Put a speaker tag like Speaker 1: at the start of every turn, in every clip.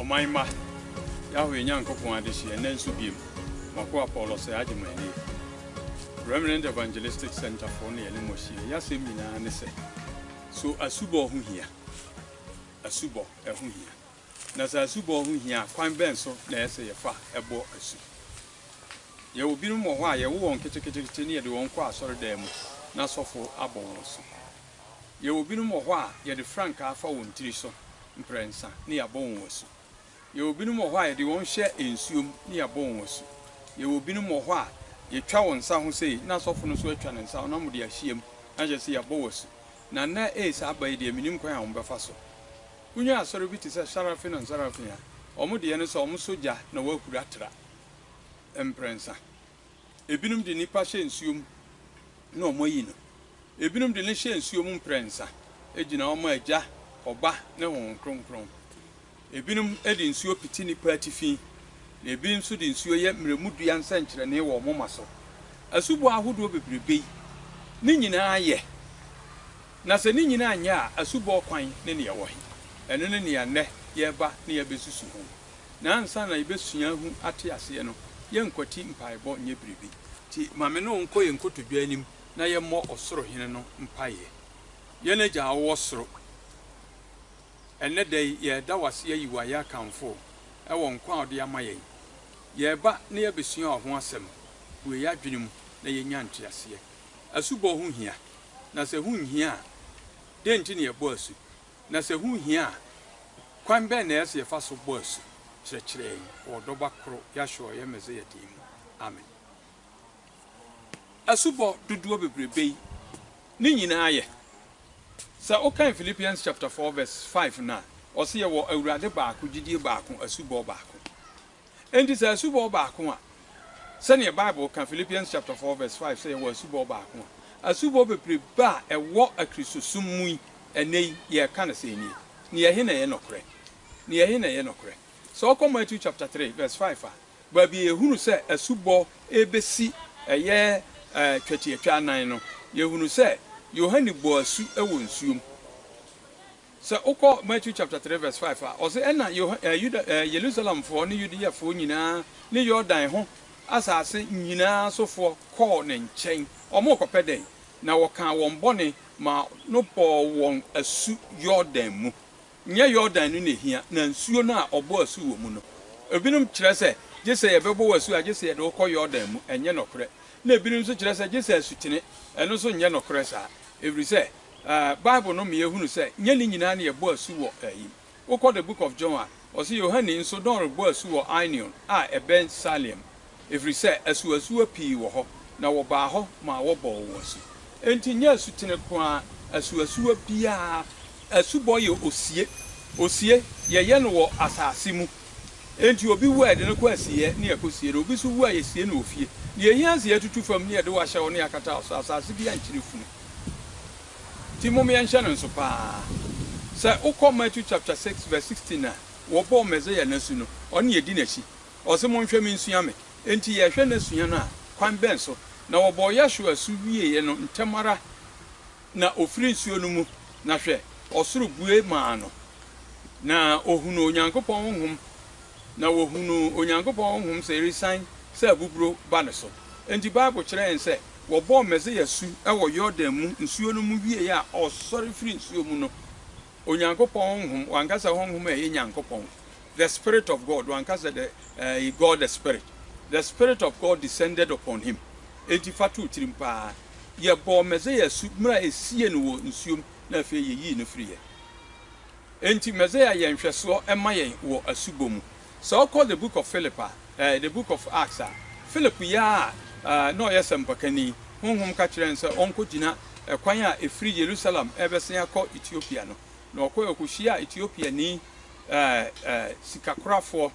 Speaker 1: Ɔman mma, Yahweh Nyankopɔn adehyeɛ nnɛ nso biom. M'akoa Paul Osei agye mo anie. Remnant Evangelistic Centre foɔ na yɛne mo ahyia. Yɛ asɛm nyinaa ne sɛ, So asubɔ ho hia? Asubɔ, ɛho hia. Na sɛ asubɔ ho hia a, kwan bɛn so na ɛyɛ sɛ yɛfa bɔ asu? Yɛwɔ binom wɔ hɔ a, yɛwo wɔn ketekete na yɛde wɔn kɔ asɔredan mu na asɔfo abɔ wɔn asu. Yɛwɔ binom wɔ hɔ a yɛde frankaa fa wɔn tiri so mprɛnsa na yɛabɔ wɔn asu. Yɛwɔ binom wɔ hɔ a yɛde wɔn hyɛ nsuom na yɛabɔ wɔn asu. Yɛwɔ binom wɔ hɔ a yɛtwa wɔn nsa ho sei na asɔfo no nso atwa ne nsa ho na wɔde ahyiam na kyerɛ sɛ yɛabɔ wo asu. Na nnɛ ee saa aba yi deɛ mennim kwan a wɔbɛfa so. Wonya asɔre bi te sɛ Sarafin and Sarafin a, wɔn deɛ ne sɛ wɔsɔ gya na wɔahuri atra mprɛnsa. Ebinom de nnipa hyɛ nsuo mu na wɔayi no. Ebinom de no hyɛ nsuo mu mprɛnsa gyina wɔn Agya, Ɔba, ne Honhom Kronkron. Ebinom de nsuo pete nnipa atifi, na ebi nso de nsuo yɛ mmerɛmudua nsɛnkyerɛnne wɔ wɔn moma so. Asubɔ ahodoɔ bebrebe yi, ne nyinaa yɛ, na sɛ ne nyinaa nyɛ a, asubɔ kwan ne nea ɛwɔ he? Ɛno ne nea nnɛ yɛreba na yɛabɛsusu ho. Na ansa na yɛbɛsua ahu ate aseɛ no, yɛnkwati mpaebɔ nyɛ biribi. Nti ma me ne wo nkɔ yɛn nkotodwe anim na yɛmmɔ Ɔsoro Hene no mpaeɛ. Yɛn Agya a wowɔ Soro, ɛnnɛ da yi yɛreda wo ase ayi wo ayɛ akamfo wo wɔ nkwa a wode ama yɛn. Yɛreba na yɛabɛsua wo ho asɛm. Bue yɛn adwene mu na yɛnya nteaseɛ. Asubɔ ho hia, na sɛ ɛho nhia a, dɛn nti na yɛbɔ asu? Na sɛ ɛho hia a, kwan bɛn na ɛyɛ sɛ yɛfa so bɔ asu? Kyerɛkyerɛ yɛn wɔ wo Dɔba koro, Yahshua Ɔyɛ Mesia din mu. Amen. Asubɔ dodoɔ bebrebe yi, ne nyinaa yɛ. Sɛ wokan Philippians chapter four verse five no a, ɔse yɛwɔ Awurade baako, gyidie baako, asubɔ baako. Enti sɛ asubɔ baako a, sɛnea Bible ka, Philippians chapter four verse five, sɛ yɛwɔ asubɔ baako a, asubɔ bebrebe a ɛwɔ Akristosom mu yi, ɛnnɛ yi, yɛka no sɛɛ nie, Ne yɛhe na ɛyɛ nɔkorɛ? Ne yɛhe na ɛyɛ nɔkorɛ? Sɛ wokɔ Matthew chapter three verse five a, baabi a yɛhunu sɛ asubɔ rebɛsi, ɛyɛ twatiatwa anan no, yɛhunu sɛ Yohane bɔɔ asu wɔ nsuom. Sɛ wokɔ Matthew chapter three verse five a, ɔse, Ɛnna Yoha ɛɛ Yuda ɛɛ Yerusalemfoɔ ne Yudeafoɔ nyinaa ne Yordan ho asase nyinaa sofoɔ kɔɔ ne nkyɛn. Wɔrekɔpɛ dɛn? Na wɔkaa wɔn bɔne maa no bɔɔ wɔn asu Yordan mu. Nyɛ Yordan no na ɛhia, na nsuo no a wɔbɔ asu wɔ mu no. Ebinom kyerɛ sɛ, gye sɛ yɛbɛbɔ wo asu a, gye sɛ yɛde wo kɔ Yordan mu. Ɛnyɛ nɔkorɛ. Ɛnna ebinom nso kyerɛ sɛ, gye sɛ asutene. Ɛno nso nyɛ nɔkorɛ saa, ɛfiri sɛ. Bible no ma yɛhunu sɛ nyɛ ne nyinaa na yɛbɔ asu wɔ ayi. Wokɔ The Book of John a, ɔse Yohane nso na ɔrebɔ asu wɔ Ainion a ɛbɛn Salim, ɛfiri sɛ asuasuwa pii wɔ hɔ, na wɔbaa hɔ maa wɔbɔɔ wɔn asu. Enti nyɛ asutene ko ara, asuasuwa biara, asubɔ yɛ osie. Osie, yɛyɛ no wɔ asase mu. Enti obi wu a, yɛde no kɔ asieɛ ne yɛkɔsie no. Obi nso wu a, yɛsie no wɔ fie. Deɛ ɛhia ne sɛ yɛatutu fam ne yɛde wo ahyɛ hɔ ne yɛakata wo so. Asase bi ankyere funu. Nti mom yɛnhyɛ no nso paa. Sɛ wokɔ Matthew chapter six verse sixteen a, wɔbɔɔ Messiah no asu no, ɔne yɛdi n'akyi. Ɔse monhwɛ me nsua me. Enti yɛhwɛ no sua no a, kwan bɛn so? Na wɔbɔɔ Yahshua asu wieeɛ no ntɛm ara na ɔfiri nsuo no mu, na hwɛ, ɔsoro bue maa no, na ɔhunuu Onyankopɔn Honhom, na wɔhunuu Onyankopɔn Honhom sɛ ɛresian sɛ abuburo ba ne so. Enti Bible kyerɛ yɛn sɛ Wɔbɔɔ Mesia asu wɔ Yordan mu nsuo no mu wieeɛ a ɔsɔre firii nsuo mu no, Onyankopɔn Honhom, wankasa Honhom a ɛyɛ Nyankopɔn, the Spirit of God, wankasa the, eh, he God the Spirit, the Spirit of God descended upon him. Enti fa too tirim paa, yɛbɔɔ Mesia asu mmerɛ a ɛsiee no wɔ nsuom na afei yɛyii no firiiɛ. Enti Mesia yɛ nhwɛsoɔ ma yɛn wɔ asubɔ mu. Sɛ ɔkɔ The Book of Philip a, eh, The Book of Acts a, Philip yɛ a eh, na ɔyɛ sɛmpakani. Honhom ka kyerɛɛ no sɛ ɔnkɔgyina ɛkwan a ɛfiri Yerusalem rebɛsen akɔ Ethiopia no. Na ɔkɔe, ɔkɔhyiaa Ethiopiani eh, eh, sikakorafoɔ,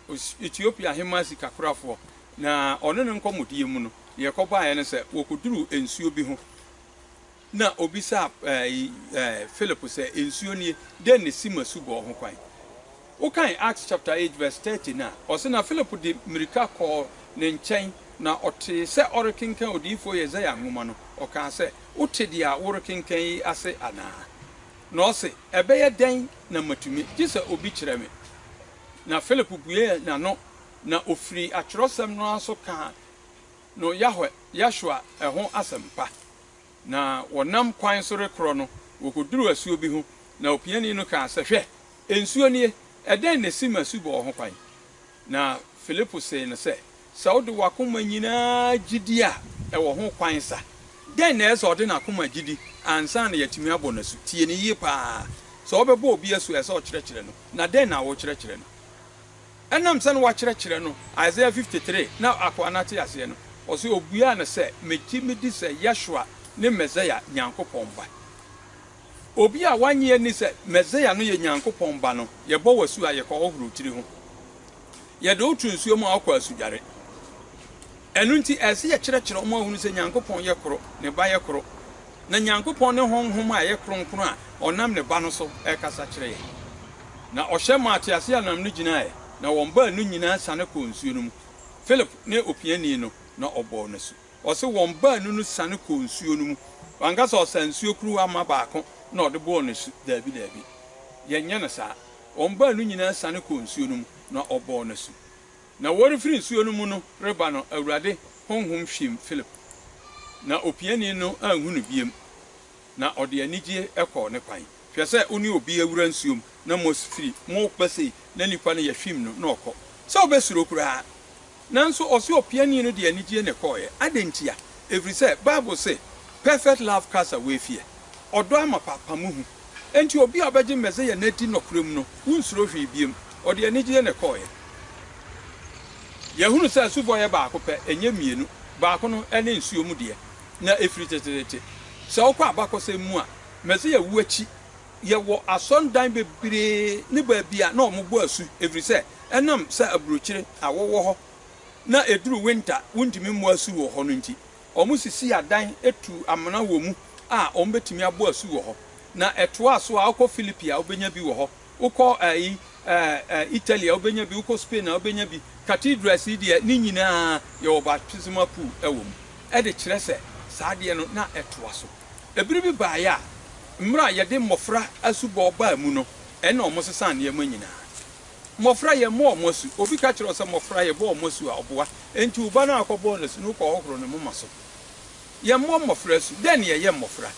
Speaker 1: os, Ethiopia ahemmaa sikakorafoɔ. Na ɔne no nkɔmmɔdie mu no, deɛ ɛkɔbaeɛ ne sɛ wɔkɔduruu nsuo bi ho. na obisaa Philip sɛ, Nsuo nie, dɛn na ɛsi ma su bɔɔ ho kwan? Wokan Acts chapter eight verse thirty no a, ɔse, Na Philip de mmirika kɔɔ ne nkyɛn, na ɔtee sɛ ɔrekenkan odiyifoɔ Yesaia nwoma no, ɔkaa sɛ, Wote deɛ worekenkan yi ase anaa? Na ɔse, Ɛbɛyɛ dɛn na matumi, gye sɛ obi kyerɛ me? Na Philip buee n'ano, na ɔfirii atwerɛsɛm no ara so kaa no Yahweh, Yahshua, ho asɛmpa. na wɔnam kwan so rekorɔ no, wɔkɔduruu asuo bi ho, na opiani no kaa sɛ, Hwɛ! Nsuo nie, ɛdɛn na ɛsi ma asubɔɔ ho kwan? Na Filipo see no sɛ, Sɛ wode w'akoma nyinaa gye di a, ɛwɔ ho kwan sa. Dɛn na ɛsɛ sɛ ɔde n'akoma gye di ansa na yɛatumi abɔ no asu? Tie no yie pa ara. Sɛ wɔbɛbɔ obi asu a, ɛsɛ sɛ ɔkyerɛkyerɛ no. Na dɛn na wokyerɛkyerɛ no? Ɛnam sɛ na wɔakyerɛkyerɛ no Isaiah 53 na akoa no ate aseɛ no, ɔse, Ɔbuaa no sɛ, Megye medi sɛ Yeshua ne Mesaia, Nyankopɔn Ba. Obi a wannye anni sɛ Mesaia no yɛ Nyankopɔn Ba no, yɛbɔ wo asu a yɛkɔhohoro wo tiri ho. Yɛde wo to nsuo mu a wokɔ asudware. Ɛno nti, ɛsɛ sɛ yɛkyerɛkyerɛ wɔn ma wɔhunu sɛ Nyankopɔn yɛ koro, ne Ba yɛ koro, na Nyankopɔn ne honhom a ɛyɛ kronkron a ɔnam ne Ba no so rekasa kyerɛ yɛn. Na ɔhyɛ maa teaseɛnam no gyinaeɛ, na wɔn baanu nyinaa siane kɔɔ nsuo no mu, Philip ne opiani no, na ɔbɔɔ no asu. Ɔse wɔn baanu no siane kɔɔ nsuo no mu. Wanka sɛ ɔsaa nsuo kuruwa ma baako na ɔde bɔɔ no asu. Daabi, daabi. Yɛnyɛ no saa. Wɔn baanu nyinaa siane kɔɔ nsuo no mu, na ɔbɔɔ no asu. Na wɔrefiri nsuo no mu no reba no, Awurade Honhom hwim Filip, na opiani no anhu no biem, na ɔde anigyeɛ kɔɔ ne kwan. Hwɛ sɛ wo ne obi awura nsuo mu na moafiri mo ba sei, na nipa no yɛhwim no na ɔkɔ, sɛ wobɛsuro koraa? Nanso ɔse opiani no de anigyeɛ na ɛkɔeɛ. Adɛn ntia? Ɛfiri sɛ Bible se, Perfect love cast away fear, ɔdɔ amapa pamo hu. Enti obi a ɔbɛgye Mesia no adi nɔkorɛ mu no, wonsuro hwee biom. Ɔde anigyeɛ na ɛkɔeɛ. Yɛahunu sɛ asubɔ yɛ baako pɛ, ɛnyɛ mmienu. Baako no, ɛne nsuo mu deɛ, na ɛfiri teteete. Sɛ wokɔ abakɔsɛm mu a, Mesia wuo akyi, yɛwɔ asɔredan bebree ne baabi a na wɔbɔ asu, ɛfiri sɛ ɛnam sɛ aburokyire, awɔ wɔ hɔ, na ɛduru winter, wontumi mmɔ asu wɔ hɔ no nti. wɔsisii adan tuu amena wɔ mu a wɔbɛtumi abɔ asu wɔ hɔ. Na ɛtoaa so a, wokɔ Philippi a, wobɛnya bi wɔ hɔ. Wokɔ ɛyi, ɛɛ, Italy a, wobɛnya bi, wokɔ Spain a, wobɛnya bi. Cathedrals yi deɛ, ne nyina ara yɛwɔ baptismal pool wɔ mu, de kyerɛ sɛ saa adeɛ no na ɛtoa so. Ɛberɛ bi baeɛ a, mmerɛ a yɛde mmɔfra asubɔ baa mu no, ɛnna wɔsesaa nneɛma nyina ara. Mmofra, yɛmmɔ wɔn asu. Obi ka kyerɛ wo sɛ, Mmofra, yɛbɔ wɔn asu a, ɔboa. Enti wo ba no a wokɔbɔɔ no asu no, wokɔhohoro ne moma so. Yɛmmɔ mmofra asu. Dɛn na yɛyɛ mmofra?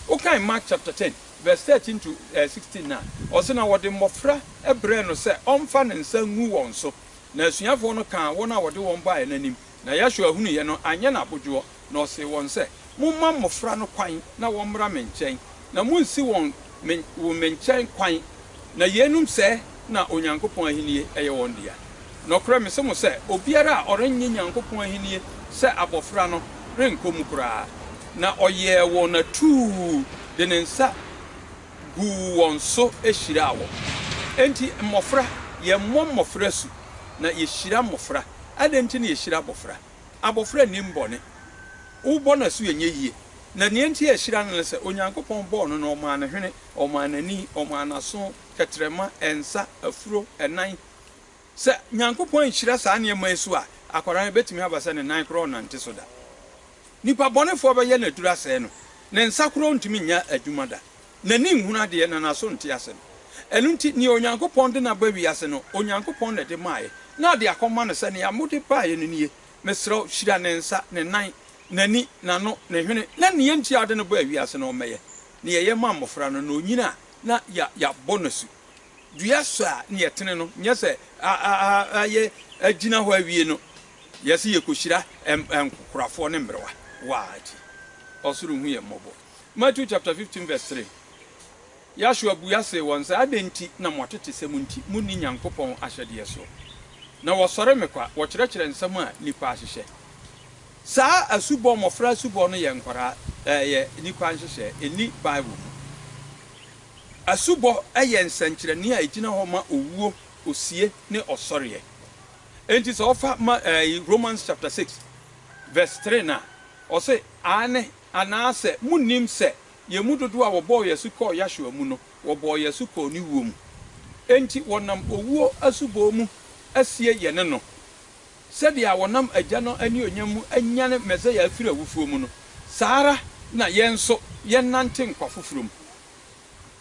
Speaker 1: Wokan Mark chapter ten, verse thirteen to sixteen no a, ɔse, Na wɔde mmofra brɛɛ no sɛ ɔmfa ne nsa ngu wɔn so, na asuafoɔ no kaa wɔn a wɔde wɔn baeɛ no anim. Na Yeshua hunuiɛ no, anyɛ no abodwoɔ, na ɔsee wɔn sɛ, Momma mmɔfra no kwan na wɔmmra me nkyɛn, na monnsi wɔn me wo me nkyɛn kwan, na yeinom sɛɛ na Onyankopɔn ahennie yɛ wɔn dea. Nɔkorɛ mese mo sɛ, obiara a ɔrennye Nyankopɔn ahennie sɛ abɔfra no renkɔ mu koraa. Na ɔyɛɛ wɔn atuu de ne nsa. guu wɔn so hyiraa wɔn. Enti mmofra, yɛmmɔ mmofra asu, na yehyira mmofra. Adɛn nti na yehyira abofra? Abofra nnim bɔne. Wobɔ no asu a, ɛnyɛ yiye. Na nea enti a yehyira no ne sɛ, Onyankopɔn bɔɔ no na ɔmaa no hwene, ɔmaa no ani, ɔmaa no aso, tɛtrɛma, nsa, afuro, nan. Sɛ Nyankopɔn anhyira saa nneɛma yi so a, akwadaa no, ebetumi aba sɛ ne nan koraa ɔnnante so da. Nnipa bɔnefoɔ bɛyɛ no aduru asɛe no, ne nsa korɔ rentumi nyɛ adwuma da, n'ani nhunu adeɛ na n'aso nte asɛm. Ɛno nti, nea Onyankopɔn de no aba wiase no, Onyankopɔn na ɛde maeɛ, na ɔde akɔma no sɛ, Nea mode baeɛ no nie, mesrɛ wo, hyira ne nsa, ne nan, n'ani, n'ano, ne hwene, na nea enti a wode no baa wiase no, ɔmmɛyɛ nea yɛyɛ ma mmɔfra no, na ɔnyini a na yɛabɔ no asu. Dua so a na yɛtene no, nyɛ sɛ agyina hɔ awie no, Yɛse yɛkɔhyira nkokorafoɔ ne mmerewa wɔ a akyi. Ɔsoro hu yɛn mmɔbɔ. Matthew chapter 15 verse 3, Yahshua bua see wɔn sɛ, Adɛn nti na mo atetesɛm nti monni Nyankopɔn ahyɛdeɛ soɔ? Na wɔsɔre me kwa, wɔkyerɛkyerɛ nsɛm a nnipa ahyehyɛ. Saa asubɔ, mmɔfra asubɔ no yɛ nkwadaa, ɛyɛ nnipa nhyehyɛɛ, ɛnni Bible mu. Asubɔ yɛ nsɛnkyerɛnne a ɛgyina hɔ ma owuo, osie, ne ɔsɔreɛ. Enti sɛ wɔfa ma ɛɛ Romans chapter six verse three no a, ɔse, Aane, anaasɛ monnim sɛ yɛn mu dodoɔ a wɔbɔɔ yɛn asu kɔɔ Yahshua mu no, wɔbɔɔ yɛn asu kɔɔ ne wuo mu. Enti wɔnam owuo asubɔɔ mu asie yɛne no, sɛdeɛ a wɔnam Agya no anuonyam mu anyane Messiah afiri awufoɔ mu no, saa ara na yɛn nso yɛnnante nkwa foforɔ mu.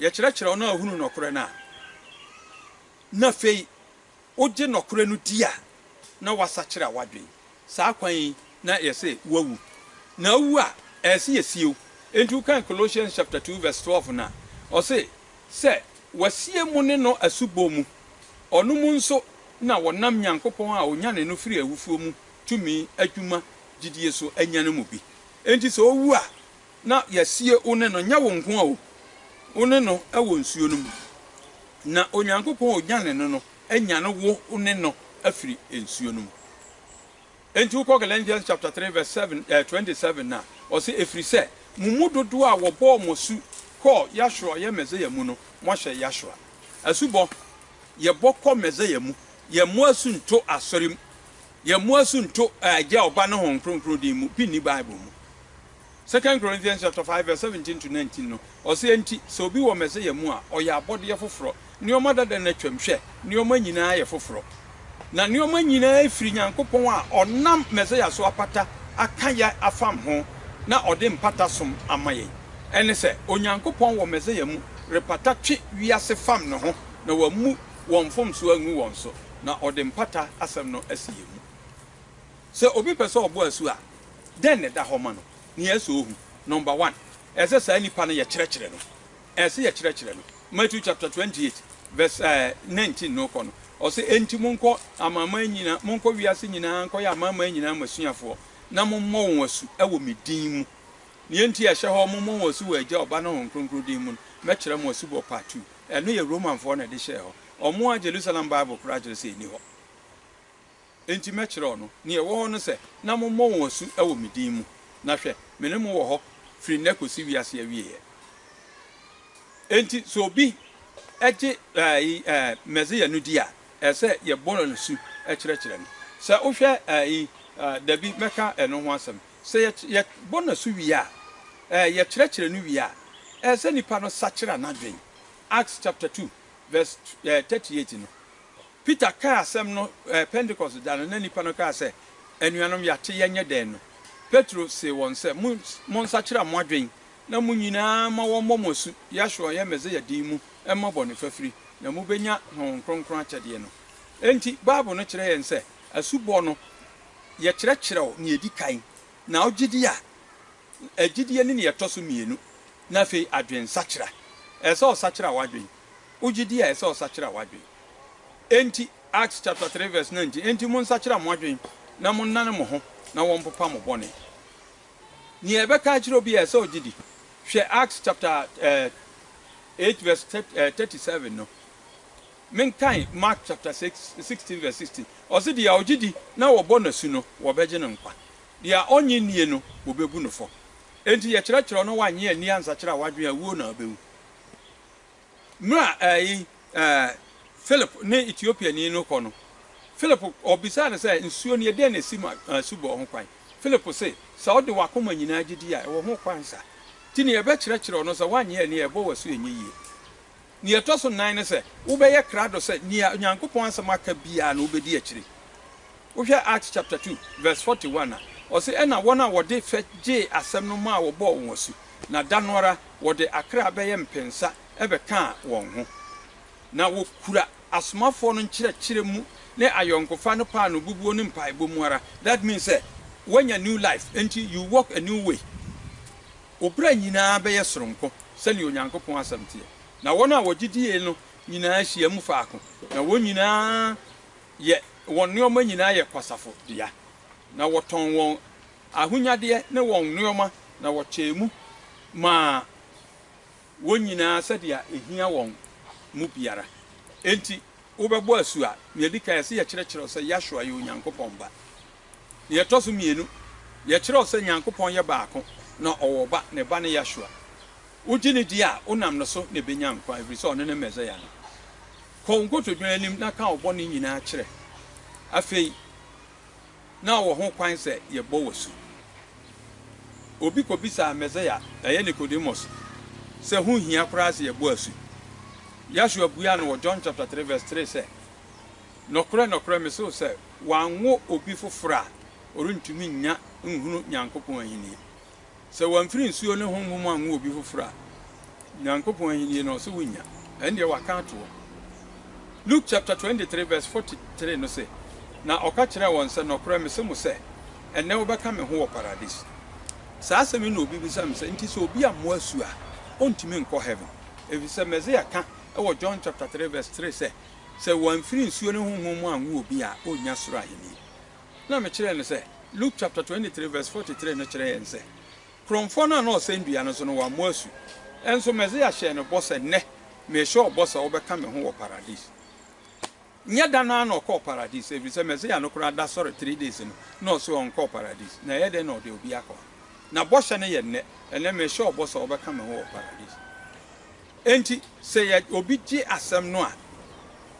Speaker 1: yɛkyerɛkyerɛ wɔn a wɔhunu nɔkorɛ no a, na afei wogye nɔkorɛ no di a, na woasakyera w'adwen. Saa kwan yi na ɛyɛ sɛ woawu. Na wowu a, ɛyɛ sɛ yɛsie wo. Enti wokan Colossians chapter two verse twelve no a, ɔse, Sɛ wɔasie mo ne no asubɔ mu, ɔno mu nso na wɔnam Nyankopɔn a ɔnyanee no firii awufoɔ mu tumi adwuma gyidie so anya no mu bi. Enti sɛ wowu a, na yɛasie wo ne no, nyɛ wo nko o, wo ne no wɔ nsuo no mu, na Onyankopɔn a ɔnyane no no anyane wo ne no afiri nsuo no mu. Enti wokɔ Galatians chapter 3 verse 7, eh, 27 no a, ɔse, ɛfiri sɛ mo mu dodoɔ a wɔbɔɔ mo asu kɔɔ Yahshua ɔyɛ Mɛsaya mu no, moahyɛ Yahshua. Asubɔ, yɛbɔ kɔ Mɛsaya mu, yɛmmɔ asu nto asɔre mu, yɛmmɔ asu nto eh, Agya, Ɔba ne Honhom Kronkron din mu, bi nni Bible mu. Second Corinthians chapter five verse seventeen to nineteen no, ɔse, Enti sɛ obi wɔ Mesia mu a, ɔyɛ abɔdeɛ foforɔ, nneɛma dada no atwam, hwɛ, nneɛma nyina ara yɛ foforɔ. Na nneɛma nyina ara firi Nyankopɔn a ɔnam Mesia so apata aka yɛn afam ho, na ɔde mpata som ama yɛn. Ɛne sɛ, Onyankopɔn wɔ Mesia mu repata twe wiase fam ne ho, na wammu wɔn mfomsoɔ angu wɔn so, na ɔde mpata asɛm no asi yɛn mu. Sɛ obi pɛ sɛ ɔbɔ asu a, dɛn na ɛda hɔ ma no? Nea ɛsɛ sɛ ohu, Number one, ɛsɛ sɛ saa nipa no yɛkyerɛkyerɛ no. Ɛsɛ sɛ yɛkyerɛkyerɛ no. Matthew chapter twenty eight verse nineteen no kɔ no, ɔse, Enti monkɔ amanaman nyinaa, monkɔ wiase nyinaa nkɔyɛ amanaman nyinaa m'asuafoɔ, na mommɔ wɔn asu wɔ me din mu. Nea enti a ɛhyɛ hɔ, mommɔ wɔn asu wɔ Agya, Ɔba, ne Honhom Kronkron din mu no, mɛkyerɛ mo asubɔ part two. Ɛno yɛ Romanfoɔ na ɛde hyɛɛ hɔ. Wɔn ara Jerusalem Bible koraa kyerɛ sɛ ɛnni hɔ. Enti mɛkyerɛw no. Nea ɛwɔ hɔ ne sɛ, na mommɔ wɔn asu wɔ me din mu, na hwɛ, me ne mo wɔ hɔ firi nnɛ kosi wiase awieeɛ. Enti sɛ obi gye Mesia no di a, ɛsɛ sɛ yɛbɔ no asu kyerɛkyerɛ no. Sɛ wohwɛ Dabi, mɛka ɛno ho asɛm. Sɛ yɛbɔ no asu wie a, yɛkyerɛkyerɛ no wie a, ɛsɛ sɛ nipa no sakyera n'adwene. Acts chapter two verse thirty eight no, Peter kaa asɛm no wɔ Pentekoste da no na nnipa no kaa sɛ, Anuanom, yɛate, yɛnyɛ dɛn? no, Petro see wɔn sɛ, Monsakyera mo adwene na mo nyinaa mma wɔmmɔ mo asu Yahshua a ɔyɛ Mesia din mu mma bɔne fafiri, na mobɛnya Honhom Kronkron akyɛdeɛ no. Enti, Bible no kyerɛ yɛn sɛ asubɔ no, yɛkyerɛkyerɛw nea ɛdi kan, na wogye di a, Gyidie ne deɛ ɛtɔ so mmienu, na afei adwensakyera. Ɛsɛ sɛ ɔsakyera w'adwene. Wo gyidie a, ɛsɛ sɛ ɔsakyera w'adwene. Enti, Acts chapter three verse nineteen, Enti monsakyera mo adwene, na monnane mo ho, na wɔmpopa mo bɔne. Nea ɛbɛka akyerɛ obi a, ɛsɛ sɛ ɔgye di. Hwɛ Acts chapter eight verse thirty seven no. Menkan Mark chapter six, sixteen verse sixteen. Ɔse, Deɛ ɔgye di na wɔbɔ no asu no, wɔbɛgye no nkwa. Deɛ ɔnnye nnie no, wɔbɛbu no fɔ. Enti yɛkyerɛkyerɛw no wannye anni ansakyera a wadwen a wuo na ɔbɛwu. Mmerɛ a ɛɛyi ɛɛ Philip ne Ethiopiani no kɔ no, Philip ɔbisaa no sɛ, Nsuo nie, dɛn na ɛsi ma asubɔ ho kwan? Philip se, Sɛ wode w'akoma nyinaa gyedie a, ɛwɔ ho kwan sa. Nti nea yɛbɛkyerɛkyerɛw no sɛ woannye anni a, ɛbɔ w'asu ɛnyɛ yie. Nea ɛtɔ so nnan ne sɛ wobɛyɛ krado sɛ nea Onyankopɔn Asɛm aka biara no wobedi akyiri. Wohwɛ Acts chapter two verse forty one a, ɔse, Ɛnna wɔn a wɔde fɛ gyee asɛm no maa wɔbɔɔ wɔn asu, na da no ara wɔde akra bɛyɛ mpensa bɛkaa wɔn ho. Ná wokura asomafoɔ no nkyerɛkyerɛ mu ne ayɔnkofa no paanoo bubuo ne mpaebɔ mu ara. That means sɛ woanya new life, enti you walk a new way. Wo bra nyinaa bɛyɛ soronko, sɛnea Onyankopɔn asɛm teɛ. Na wɔn a wɔgye die no nyinaa hyiam faako, na wɔn nyinaa yɛ wɔn nneɛma nyinaa yɛ kwasafo dea, na wɔtɔn wɔn ahonyadeɛ ne wɔn nneɛma, na wɔkyɛɛ mu maa wɔn nyinaa sɛdeɛ ɛhia wɔn mu biara. Enti wobɛbɔ asu a, nea ɛdi kan, ɛsɛ yɛkyerɛkyerɛ wo sɛ Yahshua yɛ Onyankopɔn Ba. Nea ɛtɔ so mmienu, yɛkyerɛw sɛ Nyankopɔn yɛ baako na ɔwɔ Ɔba, ne Ba ne Yahshua. Wogye no di a, wonam no so na ebenya nkwa, ɛfiri sɛ ɔno ne Mesaia no. Kɔ wo nkotodwe anim na ka wo bɔne nyinaa kyerɛ. Afei, na ɔwɔ ho kwan sɛ yɛbɔ wo asu. Obi kobisaa Mesaia, ɛyɛ Nicodemus, sɛ ho nhia koraa sɛ yɛbɔ asu. Yahshua buaa no wɔ John chapter three verse three sɛ, Nɔkorɛ, nɔkorɛ, mese wo sɛ, wanwo obi foforɔ a, ɔrentumi nnya nhunu Nyankopɔn ahennie. Sɛ wamfiri nsuo ne Honhom mu anwo obi foforɔ a, Nyankopɔn ahennie no, ɔse wonnya. Ɛndeɛ waka atoɔ. Luke chapter-23 verse 43 no se, Na ɔka kyerɛɛ wɔn sɛ, Nɔkorɛ mese mo sɛ, ɛnnɛ wobɛka me ho wɔ Paradis. Saa asɛm yi na obi bisa me sɛ, Nti sɛ obi ammɔ asu a, ɔntumi nkɔ Heaven? Efisɛ Mesia ka wɔ John chapter-3 verse 3 sɛ, Sɛ wɔamfiri nsuo ne Honhom mu anwo obi a, ɔrennya Soro Ahenni. Na mekyerɛɛ no sɛ, Luke chapter 23 verse 43 no kyerɛ yɛn sɛ, korɔmfoɔ no a na ɔsɛn dua no so no, wammɔ asu. Nso Mesia hyɛɛ no bɔ sɛ, Nnɛ, merehyɛ wo bɔ sɛ wobɛka me ho wɔ Paradise. Nyɛ da no ara na ɔkɔɔ Paradise, ɛfiri sɛ Mesia no koraa da sɔre three days no, na ɔse ɔnkɔɔ Paradise. Na ɛyɛ dɛn na ɔde obi akɔ hɔ? Na bɔhyɛ no yɛ nnɛ, Ɛnnɛ, merehyɛ wo bɔ sɛ wobɛka me ho wɔ Paradise. Enti, sɛ yɛde obi gye asɛm no a,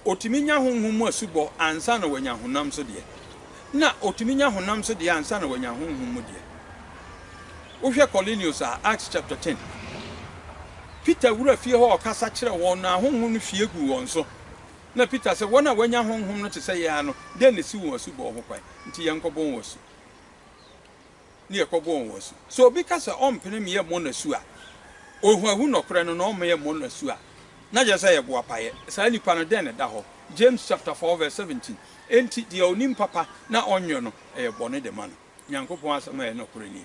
Speaker 1: otumi nya honhom mu asubɔ ansa na wanya honam so deɛ, na otumi nya honam so deɛ ansa na wanya honhom mu deɛ. Wohwɛ Kornelius a, Acts chapter ten, Peter wura fie hɔ a ɔkasa kyerɛ wɔn no a honhom no hwie guu wɔn so, na Peter sɛ, Wɔn a wɔanya honhom no te sɛ yɛn ara no, dɛn na esiw wɔn asubɔ ho kwan? Enti yɛnkɔbɔ wɔn asu. ne ɛkɔbɔ wɔn asu. Sɛ obi ka sɛ ɔmpene me yɛmmɔ no asu a, ohuahu nɔkorɛ no na ɔmma yɛmmɔ no asu a, na kyerɛ sɛ ɛyɛ boapayɛ. Saa nipa no, dɛn na ɛda hɔ? James chapter four verse seventeen, Enti deɛ ɔnim papa na ɔnyɔ no, ɛyɛ bɔne de ma no. Nyankopɔn asɛm a ɛyɛ nɔkorɛ nie.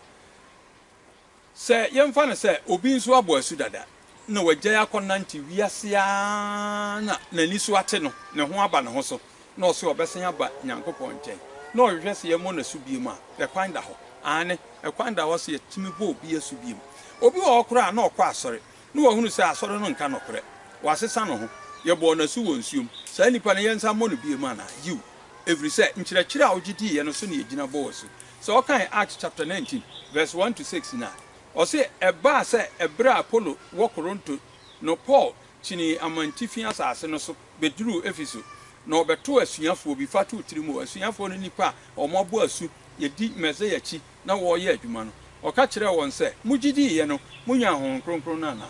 Speaker 1: Sɛ yɛmfa no sɛ obi nso abɔ asu dada na wagyae akɔnantew wiase ara na n'ani so ate no, ne ho aba ne ho so, na ɔse ɔbɛsan aba Nyankopɔn nkyɛn, na ɔhwehwɛ sɛ yɛmmɔ no asu biom a, ɛkwan da hɔ? Aane, ɛkwan da hɔ sɛ yɛtumi bɔ obi asu biom. Obi wɔ hɔ koraa a na ɔkɔ asɔre, na wahunu sɛ asɔre no nka nokorɛ. Wasesa ne ho. Yɛbɔɔ no asu wɔ nsuom. Saa nipa no, yɛnsan mmɔ no biom anaa? Yiw, ɛfiri sɛ nkyerɛkyerɛ a ɔgye diiɛ no so na yɛgyina bɔɔ asu. Sɛ ɔkan Acts chapter nineteen verse one to six no a, ɔse, Ɛbaa sɛ ɛberɛ a Apolo wɔ Koronto no Paul kyinii amantifi asase no so bɛduruu Efeso, na ɔbɛtoo asuafoɔ bi fa too tiri mu, asuafoɔ no nnipa a wɔn abɔ asu yɛdi Mesaia akyi na wɔreyɛ adwuma no. Ɔka kyerɛɛ wɔn sɛ, Mogye diiɛ no, monyaa Honhom Kronkron no anaa?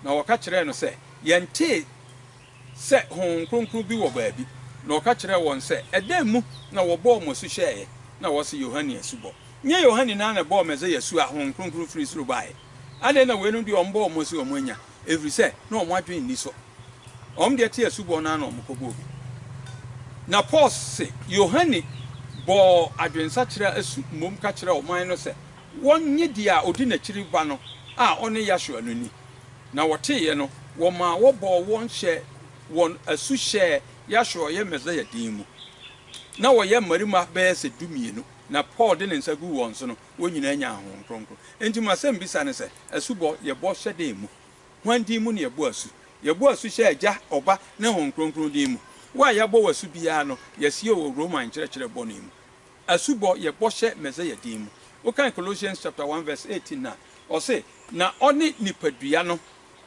Speaker 1: Na wɔka kyerɛɛ no sɛ, Yɛntee. sɛ honhom kronkron bi wɔ baabi, na ɔka kyerɛɛ wɔn sɛ, Ɛdɛn mu na wɔbɔɔ mo asu hyɛeɛ? Na wɔse, Yohane asubɔ. Nyɛ Yohane no ara na ɛbɔɔ Mesia asu a honhom kronkron firi soro baeɛ? Adɛn na weinom deɛ wɔbɔɔ wɔn asu a wɔannya, ɛfiri sɛ na wɔn adwene nni so? Wɔn deɛ te asubɔ no ara na wɔkɔbɔɔ bi. Na Paul se, Yohane bɔɔ adwensakyera asu mmom ka kyerɛɛ ɔman no sɛ wɔnnye deɛ a ɔdi n'akyiri reba no a ɔne Yahsua no nni. na wɔteeɛ no, wɔmaa wɔbɔɔ wɔn hyɛɛ wɔn asu hyɛɛ Yahsua a ɔyɛ Mesaia din mu. Na wɔyɛ mmarima bɛyɛ sɛ dumienu, na Paul de ne nsa guu wɔn so no, wɔn nyinaa nyaa Honhom Kronkron. Enti m'asɛmbisa ne sɛ, Asubɔ, yɛbɔ hyɛ dɛn mu? Hwan din mu na yɛbɔ asu? Yɛbɔ asu hyɛ Agya, Ɔba, ne Honhom Kronkron din mu. Wo a yɛabɔ wo asu biara no, yɛasie wo wɔ Roma nkyerɛkyerɛ bɔne mu. Asubɔ, yɛbɔ hyɛ Mesaia din mu. Wokan Colossians chapter one verse eighteen no a, Ɔse, Na ɔne nipadua no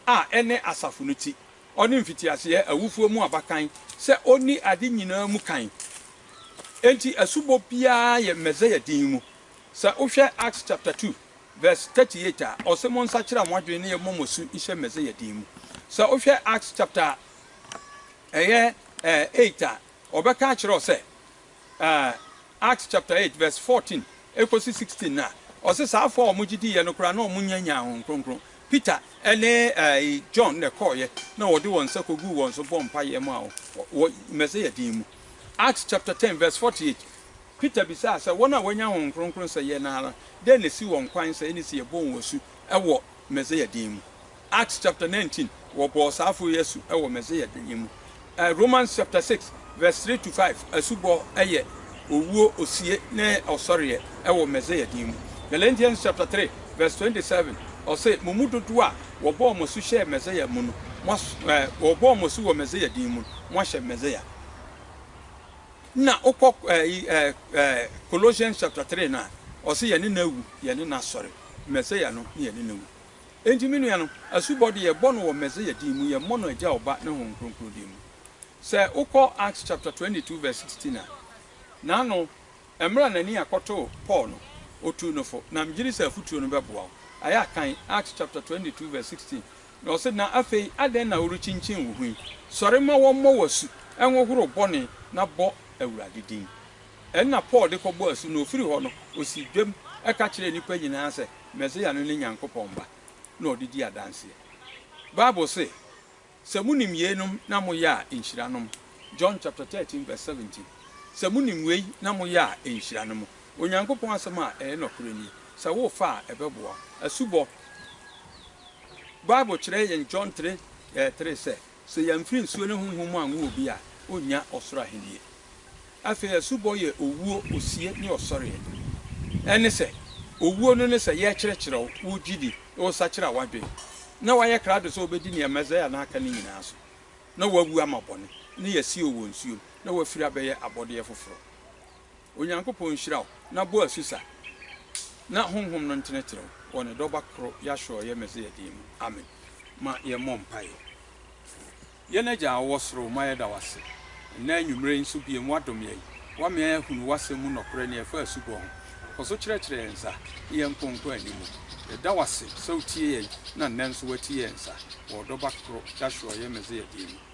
Speaker 1: a ɛne asafo no ti, ɔne mfitiaseɛ awufoɔ mu abakan, sɛ ɔnni ade nyinaa mu kan. Enti asubɔ biara yɛ Mesaia din mu. Sɛ wohwɛ Acts chapter two verse thirty eight a, ɔse, Monsakyera mo adwene ne yɛmmɔ mo asu nhyɛ Mesaia din mu. Sɛ wohwɛ Acts chapter ɛyɛ eh, eight a, ɔbɛka akyerɛ wo sɛ eh, Acts chapter eight verse fourteen ekosi sixteen no a, ɔse saafo a wɔgye diiɛ no koraa na wɔnyannyaa Honhom Kronkron. Peter ne ɛɛi John na ɛkɔɔeɛ na wɔde wɔn nsa kɔguu wɔn so bɔɔ mpaeɛ maa wɔn wɔ Mɛsɛya din mu. Acts chapter ten verse forty eight, Peter bisaa sɛ wɔn a wɔanya Honhom Kronkron sɛ yɛn no ara, dɛn na ɛsi wɔn kwan sɛ ɛne sɛ yɛbɔ wɔn asu wɔ Mɛsɛya din mu? Acts chapter nineteen, wɔbɔɔ saa afo yi asu wɔ Mesia da yi mu. Ɛ Romans chapter six verse three to five, asubɔ yɛ owuo, osie, ne ɔsɔreɛ wɔ Mesia din mu. Galatians chapter three verse twenty seven, ɔse, Mo mu dodoɔ a wɔbɔɔ mo asu hyɛɛ Mesia mu no, moas ɛ wɔbɔɔ mo asu wɔ Mesia din mu no, moahyɛ Mesia. Na wokɔ ɛ yi ɛ ɛ Colossians chapter three no a, ɔse yɛne no awu, yɛne no asɔre. Mesia no ne yɛne no awu. Enti me nuanom, asubɔ de, yɛbɔ no wɔ Mesia din mu, yɛmmɔ no Agya, Ɔba, ne Honhom Kronkron din mu. Sɛ wokɔ Acts chapter twenty two verse sixteen a, n'ano, mmerɛ a n'ani akɔtoo Paul no, ɔtuu no fo, na megye di sɛ afotuo no bɛboa wo. Ayɛ a kan Acts chapter twenty two verse sixteen, na ɔse, Na afei adɛn na worekyinkyin wo ho yi? Sɔre ma wɔmmɔ wo asu, nhohoro bɔne, na bɔ Awurade din. Ɛno na Paul de kɔbɔɔ asu, na ɔfiri hɔ no, ɔsii dwam ka kyerɛɛ nnipa nyinaa sɛ, Mesia no ne Nyankopɔn Ba, na ɔde di adanseɛ. Bible se, Sɛ monim yeinom na moyɛ a, nhyira no mo. John chapter 13 verse 17. Sɛ monim wei na moyɛ a, nhyira no mo. Onyankopɔn Asɛm a ɛyɛ nɔkorɛ nie. Sɛ wofa a, ɛbɛboa wo. Asubɔ, Bible kyerɛ yɛn John 3, eh, 3 sɛ, Sɛ yɛamfiri nsuo ne Honhom mu anwo obi a, ɔrennya ɔsoro ahennie. Afei asubɔ yɛ owuo, osie, ne ɔsɔreɛ. Ɛne sɛ, owuo no ne sɛ yɛrekyerɛkyerɛ wo, wo gyidi, na wosakyera w'adwene, na woayɛ krado sɛ wobɛdi nea Mesaia no aka no nyinaa so, na woawu ama bɔne, na yɛasie wo wɔ nsuom, na woafiri abɛyɛ abɔdeɛ foforɔ. Onyankopɔn nhyira wo na bɔ asu sa na Honhom no ntenetene wo wɔ Ne Dɔba koro Yahshua ɔyɛ Mesia din mu, amen. Ma yɛmmɔ mpaeɛ. Yɛn Agya a wowɔ Soro, ma yɛda wo ase nnɛ anwumerɛ yi nso biom, woadom yɛn, woama yɛn ahunu woasɛm mu nɔkorɛ nea ɛfa asubɔ ho. Kɔ so kyerɛkyerɛ yɛn nsa ne yɛn nkonko ani mu. Yɛda wo ase sɛ wotie yɛn na nnɛ nso woatie yɛn nsa wɔ wo Dɔba koro Yahshua ɔyɛ Mesia din mu.